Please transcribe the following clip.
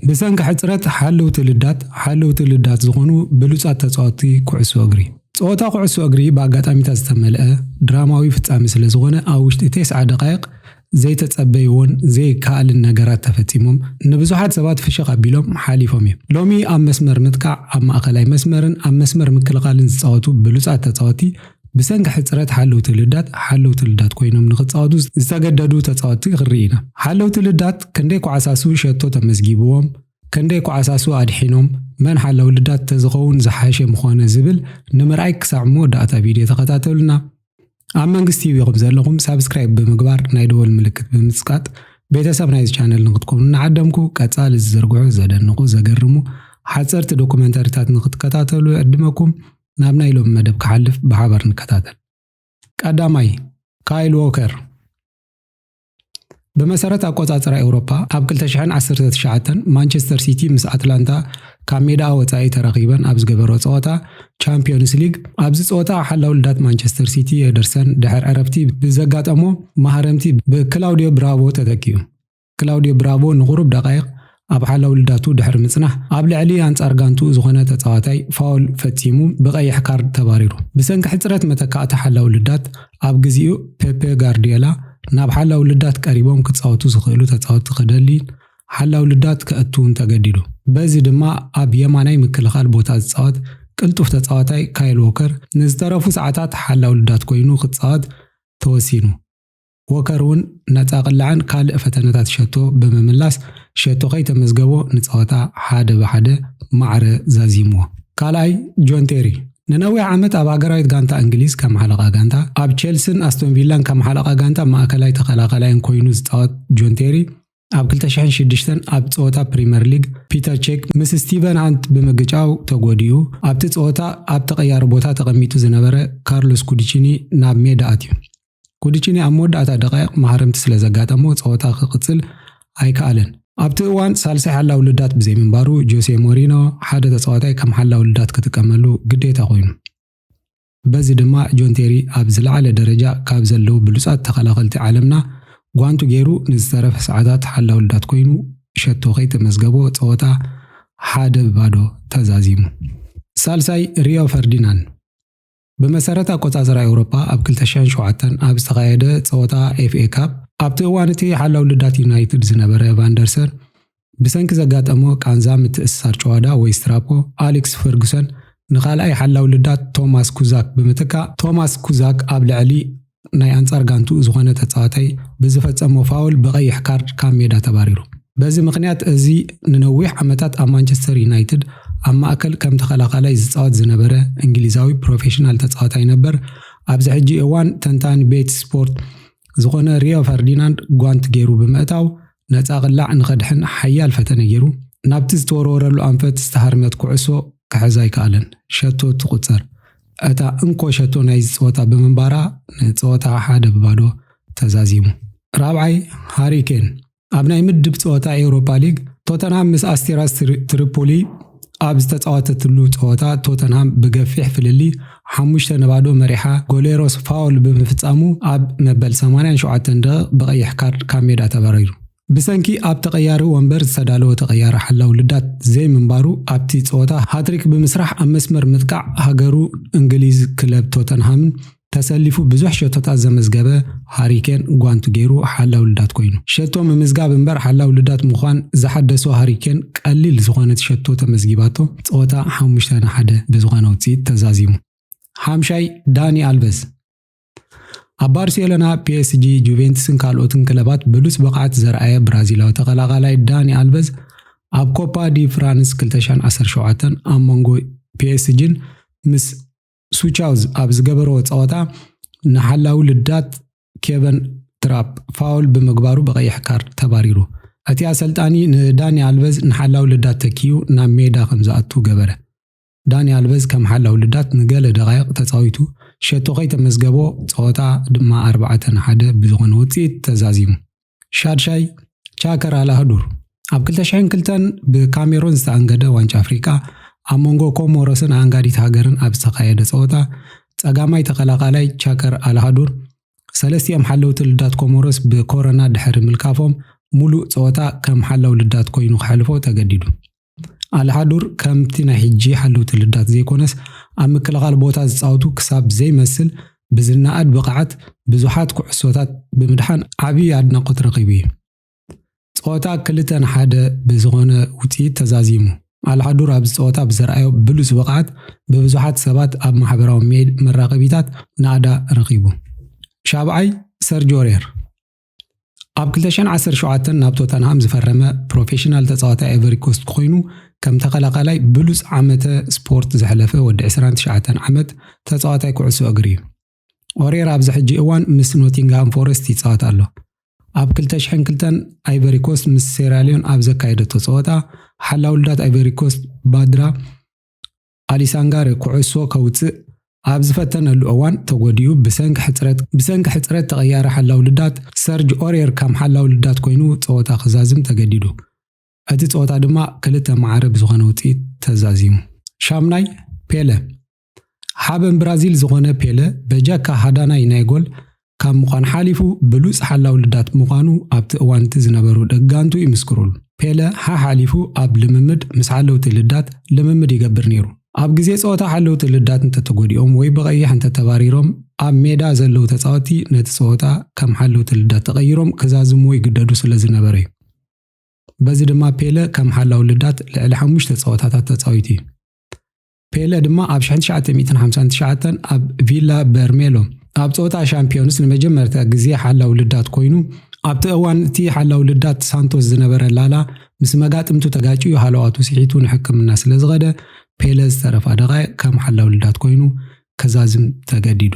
ብሰንኪ ሕጽረት ሓለውቲ ልዳት ሓለውቲ ልዳት ዝኾኑ ብሉጻት ተጻወትቲ ኩዕሶ እግሪ ጸወታ ኩዕሶ እግሪ ብኣጋጣሚታት ዝተመልአ ድራማዊ ፍጻሜ ስለ ዝኾነ ኣብ ውሽጢ ቴስዓ ደቓይቕ ዘይተጸበይዎን ዘይከኣልን ነገራት ተፈጺሞም ንብዙሓት ሰባት ፍሽኽ ኣቢሎም ሓሊፎም እዮም። ሎሚ ኣብ መስመር ምጥቃዕ፣ ኣብ ማእከላይ መስመርን ኣብ መስመር ምክልኻልን ዝጻወቱ ብሉጻት ተጻወቲ ብሰንኪ ሕጽረት ሓለውቲ ልዳት ሓለውቲ ልዳት ኮይኖም ንኽጻወቱ ዝተገደዱ ተጻወቲ ክንርኢ ኢና። ሓለውቲ ልዳት ክንደይ ኳዕሳሱ ሸቶ ተመዝጊብዎም፣ ክንደይ ኳዕሳሱ ኣድሒኖም፣ መን ሓላዊ ልዳት ተዝኸውን ዝሓሸ ምኾነ ዝብል ንምርኣይ ክሳዕ መወዳእታ ቪድዮ ተኸታተሉና። ኣብ መንግስት ቲቪ ኹም ዘለኹም ሳብስክራይብ ብምግባር ናይ ደወል ምልክት ብምጽቃጥ ቤተሰብ ናይዚ ቻነል ንክትኮኑ እናዓደምኩ ቀጻሊ ዝዝርግሑ ዘደንቑ ዘገርሙ ሓጸርቲ ዶኩመንተሪታት ንክትከታተሉ ይዕድመኩም ናብ ናይ ሎሚ መደብ ክሓልፍ ብሓባር ንከታተል ቀዳማይ ካይል ዎከር ብመሰረት ኣቆጻጽራ ኤውሮፓ ኣብ 2019 ማንቸስተር ሲቲ ምስ ኣትላንታ ካብ ሜዳኣ ወጻኢ ተራኺበን ኣብ ዝገበሮ ጸወታ ቻምፒዮንስ ሊግ ኣብዚ ጸወታ ሓላው ልዳት ማንቸስተር ሲቲ ኤደርሰን ድሕር ዕረፍቲ ብዘጋጠሞ ማህረምቲ ብክላውዲዮ ብራቮ ተተኪኡ። ክላውዲዮ ብራቮ ንቑሩብ ደቓይቕ ኣብ ሓላው ልዳቱ ድሕሪ ምጽናሕ ኣብ ልዕሊ ኣንጻር ጋንትኡ ዝኾነ ተጻዋታይ ፋውል ፈጺሙ ብቀይሕ ካርድ ተባሪሩ። ብሰንኪ ሕጽረት መተካእታ ሓላው ልዳት ኣብ ግዚኡ ፔፔ ጋርድዮላ ናብ ሓላው ልዳት ቀሪቦም ክጻወቱ ዝኽእሉ ተጻወቲ ክደልይን ሓላው ልዳት ከእትውን ተገዲዱ። በዚ ድማ ኣብ የማናይ ምክልኻል ቦታ ዝጻወት ቅልጡፍ ተጻዋታይ ካይል ዎከር ንዝተረፉ ሰዓታት ሓላው ልዳት ኮይኑ ክጻወት ተወሲኑ። ዎከር እውን ነፃ ቅላዕን ካልእ ፈተነታት ሸቶ ብምምላስ ሸቶ ከይተመዝገቦ ንፀወታ ሓደ ብሓደ ማዕረ ዛዚምዎ። ካልኣይ ጆን ቴሪ ንነዊሕ ዓመት ኣብ ሃገራዊት ጋንታ እንግሊዝ ከም ሓለቓ ጋንታ፣ ኣብ ቼልሲን ኣስቶን ቪላን ከም ሓለቓ ጋንታ ማእከላይ ተኸላኻላይን ኮይኑ ዝፃወት ጆን ቴሪ ኣብ ክልተ ሽሕን ሽዱሽተን ኣብ ጸወታ ፕሪመር ሊግ ፒተር ቼክ ምስ ስቲቨን ሃንት ብምግጫው ተጎዲኡ ኣብቲ ጸወታ ኣብ ተቐያሪ ቦታ ተቐሚጡ ዝነበረ ካርሎስ ኩድቺኒ ናብ ሜዳ ኣትዩ። ኩድቺኒ ኣብ መወዳእታ ደቓይቕ ማህረምቲ ስለ ዘጋጠሞ ጸወታ ክቕጽል ኣይከኣለን። ኣብቲ እዋን ሳልሳይ ሓላዊ ልዳት ብዘይምንባሩ ጆሴ ሞሪኖ ሓደ ተጻዋታይ ከም ሓላዊ ልዳት ክጥቀመሉ ግዴታ ኮይኑ። በዚ ድማ ጆን ቴሪ ኣብ ዝለዓለ ደረጃ ካብ ዘለዉ ብሉጻት ተኸላኸልቲ ዓለምና ጓንቱ ገይሩ ንዝተረፈ ሰዓታት ሓላው ልዳት ኮይኑ ሸቶ ከይተመዝገቦ ጸወታ ሓደ ብ ባዶ ተዛዚሙ። ሳልሳይ ሪዮ ፈርዲናን ብመሰረት ኣቆጻጽራ ኤውሮፓ ኣብ ክልተ ሽሕን ሸውዓተን ኣብ ዝተኻየደ ጸወታ ኤፍኤ ካፕ ኣብቲ እዋን እቲ ሓላው ልዳት ዩናይትድ ዝነበረ ቫንደርሰን ብሰንኪ ዘጋጠሞ ቃንዛ ምትእስሳር ጭዋዳ ወይ ስትራፖ፣ ኣሊክስ ፈርጉሰን ንኻልኣይ ሓላው ልዳት ቶማስ ኩዛክ ብምትካእ፣ ቶማስ ኩዛክ ኣብ ልዕሊ ናይ ኣንጻር ጋንትኡ ዝኾነ ተጻዋታይ ብዝፈጸሞ ፋውል ብቐይሕ ካርድ ካብ ሜዳ ተባሪሩ። በዚ ምኽንያት እዚ ንነዊሕ ዓመታት ኣብ ማንቸስተር ዩናይትድ ኣብ ማእከል ከም ተኸላኻላይ ዝጻወት ዝነበረ እንግሊዛዊ ፕሮፌሽናል ተጻዋታይ ነበር ኣብዚ ሕጂ እዋን ተንታኒ ቤት ስፖርት ዝኾነ ሪዮ ፈርዲናንድ ጓንት ጌሩ ብምእታው ነጻ ቅላዕ ንኸድሕን ሓያል ፈተነ ገይሩ፣ ናብቲ ዝተወርወረሉ ኣንፈት ዝተሃርመት ኩዕሶ ክሕዛ ኣይከኣለን። ሸቶ ትቑጸር። እታ እንኮ ሸቶ ናይዚ ጸወታ ብምንባራ ንጸወታ ሓደ ብባዶ ተዛዚሙ። ራብዓይ፣ ሃሪ ኬን ኣብ ናይ ምድብ ጸወታ ኤውሮፓ ሊግ ቶተንሃም ምስ ኣስቲራስ ትሪፖሊ ኣብ ዝተፃወተትሉ ፀወታ ቶተንሃም ብገፊሕ ፍልልይ ሓሙሽተ ን ባዶ መሪሓ ጎሌሮስ ፋውል ብምፍፃሙ ኣብ መበል ሰማንያን ሸውዓተን ደቒቕ ብቐይሕ ካርድ ካብ ሜዳ ተባሪሩ። ብሰንኪ ኣብ ተቐያሪ ወንበር ዝተዳለወ ተቐያሪ ሓላው ልዳት ዘይምንባሩ ኣብቲ ፀወታ ሃትሪክ ብምስራሕ ኣብ መስመር ምጥቃዕ ሃገሩ እንግሊዝ ክለብ ቶተንሃምን ተሰሊፉ ብዙሕ ሸቶታት ዘመዝገበ ሃሪ ኬን ጓንቱ ገይሩ ሓላው ልዳት ኮይኑ። ሸቶ ምምዝጋብ እምበር ሓላው ልዳት ምዃን ዝሓደሶ ሃሪ ኬን ቀሊል ዝኾነት ሸቶ ተመዝጊባቶ ጸወታ ሓሙሽተ ን ሓደ ብዝኾነ ውጽኢት ተዛዚሙ። ሓምሻይ ዳኒ ኣልቨዝ ኣብ ባርሴሎና፣ ፒኤስጂ፣ ጁቬንትስን ካልኦትን ክለባት ብሉጽ ብቕዓት ዘርኣየ ብራዚላዊ ተቐላቓላይ ዳኒ ኣልቨዝ ኣብ ኮፓ ዲ ፍራንስ ክልተ ሸሕን ዓሰርተ ሸውዓተን ኣብ መንጎ ፒኤስጂን ምስ ሱቻውዝ ኣብ ዝገበርዎ ፀወታ ንሓላዊ ልዳት ኬቨን ትራፕ ፋውል ብምግባሩ ብቀይሕ ካርድ ተባሪሩ። እቲ ኣሰልጣኒ ንዳኒ ኣልቨዝ ንሓላዊ ልዳት ተኪኡ ናብ ሜዳ ከምዝኣቱ ገበረ። ዳኒ ኣልቨዝ ከም ሓላዊ ልዳት ንገለ ደቓይቕ ተፃዊቱ ሸቶ ከይተመዝገቦ ፀወታ ድማ ኣርባዕተ ን ሓደ ብዝኾነ ውፅኢት ተዛዚሙ። ሻድሻይ ቻከር ኣልኣህዱር ኣብ 2002 ብካሜሮን ዝተኣንገደ ዋንጫ ኣፍሪቃ ኣብ መንጎ ኮሞሮስን ኣንጋዲት ሃገርን ኣብ ዝተኻየደ ጸወታ ጸጋማይ ተኸላኻላይ ቻከር ኣልሃዱር ሰለስቲኦም ሓለውቲ ልዳት ኮሞሮስ ብኮረና ድሕሪ ምልካፎም ሙሉእ ጸወታ ከም ሓላው ልዳት ኮይኑ ከሕልፎ ተገዲዱ። ኣልሃዱር ከምቲ ናይ ሕጂ ሓለውቲ ልዳት ዘይኮነስ ኣብ ምክልኻል ቦታ ዝጻወቱ ክሳብ ዘይመስል ብዝነኣድ ብቕዓት ብዙሓት ኩዕሶታት ብምድሓን ዓቢ ኣድናቖት ረኺቡ እዩ። ጸወታ ክልተ ን ሓደ ብዝኾነ ውጽኢት ተዛዚሙ። ኣልሃዱር ኣብዚ ጸወታ ብዘርኣዮ ብሉጽ ብቕዓት ብብዙሓት ሰባት ኣብ ማሕበራዊ መራኸቢታት ናእዳ ረኺቡ። ሻብዓይ፣ ሰርጅ ኦርየር። ኣብ 2017 ናብ ቶተንሃም ዝፈረመ ፕሮፌሽናል ተጻዋታይ ኣይቨሪኮስት ኮይኑ ከም ተኸላኻላይ ብሉጽ ዓመተ ስፖርት ዘሕለፈ ወዲ 29 ዓመት ተጻዋታይ ኩዕሶ እግሪ እዩ። ኦሬራ ኣብዚ ሕጂ እዋን ምስ ኖቲንግሃም ፎረስት ይጻወት ኣሎ። ኣብ 2002 ኣይቨሪኮስት ምስ ሴራሊዮን ኣብ ዘካየደቶ ጸወታ ሓላውልዳት ኣይቨሪኮስት ባድራ ኣሊሳንጋር ኩዕሶ ከውጽእ ኣብ ዝፈተነሉ እዋን ተጎዲኡ ብሰንኪ ሕጽረት ብሰንኪ ሕጽረት ተቐያሪ ሓላው ልዳት ሰርጅ ኦሬር ከም ሓላው ልዳት ኮይኑ ጸወታ ክዛዝም ተገዲዱ። እቲ ጸወታ ድማ ክልተ ማዕረ ብዝኾነ ውጽኢት ተዛዚሙ። ሻምናይ፣ ፔለ ሓበን ብራዚል ዝኾነ ፔለ በጃካ ሃዳናይ ናይ ጎል ካብ ምዃን ሓሊፉ ብሉጽ ሓላዊ ልዳት ምዃኑ ኣብቲ እዋን'ቲ ዝነበሩ ደጋንቱ ይምስክሩሉ። ፔለ ሓሓሊፉ ኣብ ልምምድ ምስ ሓለውቲ ልዳት ልምምድ ይገብር ነይሩ። ኣብ ግዜ ጸወታ ሓለውቲ ልዳት እንተተጎዲኦም ወይ ብቐይሕ እንተተባሪሮም ኣብ ሜዳ ዘለዉ ተጻወትቲ ነቲ ጸወታ ከም ሓለውቲ ልዳት ተቐይሮም ክዛዝምዎ ይግደዱ ስለዝነበሩ'ዩ። በዚ ድማ ፔለ ከም ሓላዊ ልዳት ልዕሊ ሓሙሽተ ጸወታታት ተጻዊቱ'ዩ። ፔለ ድማ ኣብ 1959 ኣብ ቪላ በርሜሎ ኣብ ጸወታ ሻምፒዮንስ ንመጀመርታ ግዜ ሓላው ልዳት ኮይኑ ኣብቲ እዋን እቲ ሓላው ልዳት ሳንቶስ ዝነበረ ላላ ምስ መጋጥምቱ ተጋጭዩ ሃለዋቱ ስሒቱ ንሕክምና ስለ ዝኸደ ፔለ ዝተረፋ ደቓይቕ ከም ሓላው ልዳት ኮይኑ ከዛዝም ተገዲዱ።